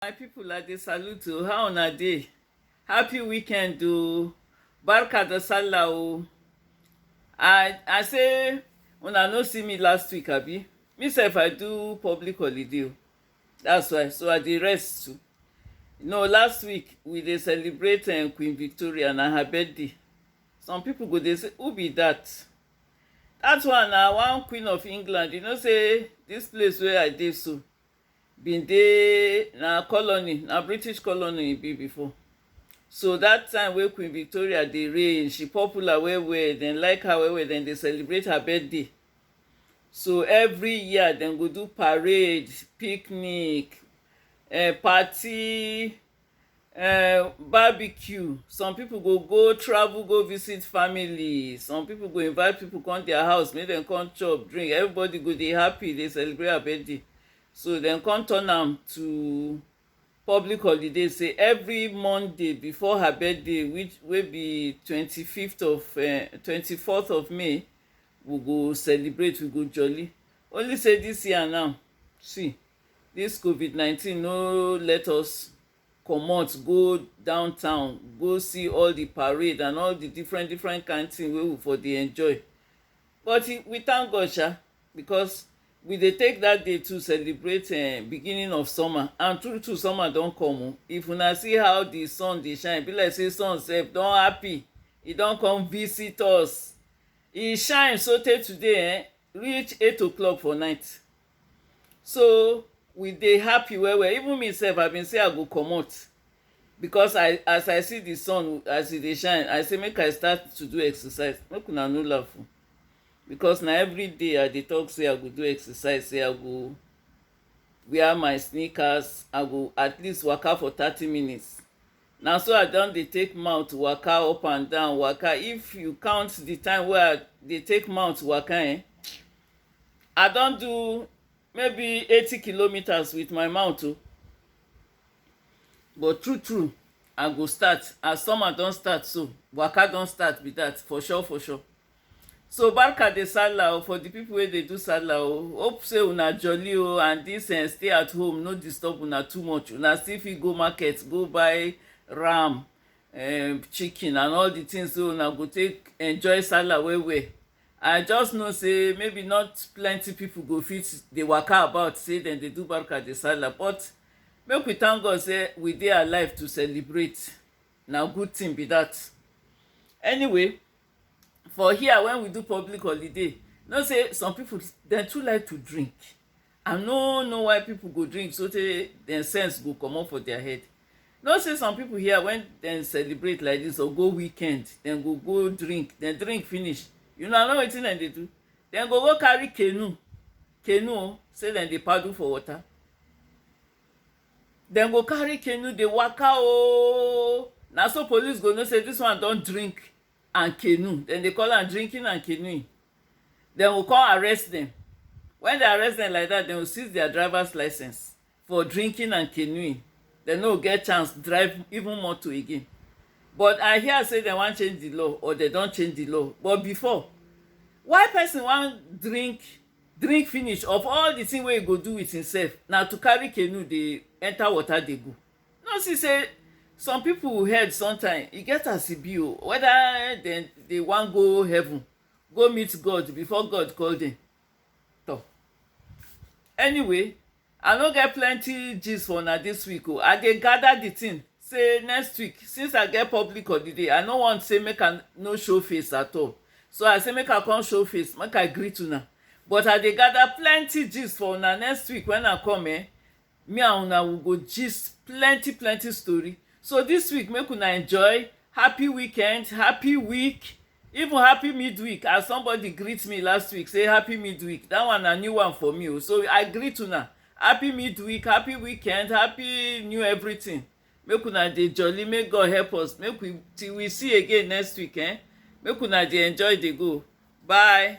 My people, I dey salute you. How una dey? Happy weekend o. Barka da sallah o. I I say una no see me last week abi? Me sef I do public holiday o. That's why so I dey rest too. No, last week we dey celebrate um, Queen Victoria na her birthday. Some people go dey say who be that? That one na one Queen of England. You know say this place wey I dey so bin dey na colony na British colony e be before so that time wey Queen Victoria dey reign she popular well well dem like her well well dem dey celebrate her birthday so every year dem go do parade picnic um party um Barbecue, some pipu go go travel go visit family, some pipu go invite pipu come dia house make dem come chop, drink, everybody go dey happy dey celebrate her birthday. So dem come turn am to public holiday sey every Monday before her birthday which wey be twenty fifth of um twenty fourth of May, we go celebrate, we go jolly. Only sey dis year now, see! This covid nineteen no let us comot go down town go see all the parade and all the different different kind thing wey we for dey enjoy but we thank God sha because we dey take that day to celebrate um, beginning of summer and true true summer don come o oh. if una see how the sun dey shine be like say sun sef don happy e don come visit us e shine so tey today eh, reach eight o'clock for night so we dey happy well well even me sef i been say i go comot because i as i see the sun as e dey shine i say make i start to do exercise make una no laugh o because na every day i dey talk say i go do exercise say i go wear my sneakers i go at least waka for thirty minutes na so i don dey take mouth waka up and down waka if you count the time wey i dey take mouth waka eh I don do maybe eighty kilometers with my mouth o but true true I go start as summer don start so waka don start be that for sure for sure so barka de sallah o for the people wey dey do sallah o hope say una jolly o and this um stay at home no disturb una too much una still fit go market go buy ram um chicken and all the things wey una go take enjoy sallah well well I just know say maybe not plenty people go fit dey waka about say dem dey do barka de sallah but make we thank God say we dey alive to celebrate na good thing be that anyway for here when we do public holiday you know say some people dem too like to drink I no know why people go drink so tey dem sense go comot for their head. You know say some people here when dem celebrate like this or go weekend, dem go go drink, dem drink finish. You know, I know wetin dem dey do. Dem go go carry canoe, canoe oh, say dem dey paddle for water. Dem go carry canoe dey waka oh. Na so police go know say this one don drink and canoe dem dey call am drinking and canoeing dem go come arrest dem when dem arrest dem like that dem go seize their drivers license for drinking and canoeing dem no go get chance drive even motor again but i hear say dem wan change the law or dem don change the law but before why person wan drink drink finish of all the thing wey e go do with himself na to carry canoe dey enter water dey go No see sey some pipu head sometimes e get as e be o whether dem dey wan go heaven go meet God before God call dem tor anyway I no get plenty gist for una this week o I dey gather the thing sey next week since I get public holiday I no want sey make I no show face at all so I sey make I come show face make I greet una but I dey gather plenty gist for una next week when I come um Me and una we go gist plenty plenty story so this week make una enjoy happy weekend happy week even happy midweek as somebody greet me last week say happy midweek that one na new one for me o oh. so I greet una happy midweek happy weekend happy new everything make una dey jolly make God help us make we till we see again next week eh make una dey enjoy dey go bye.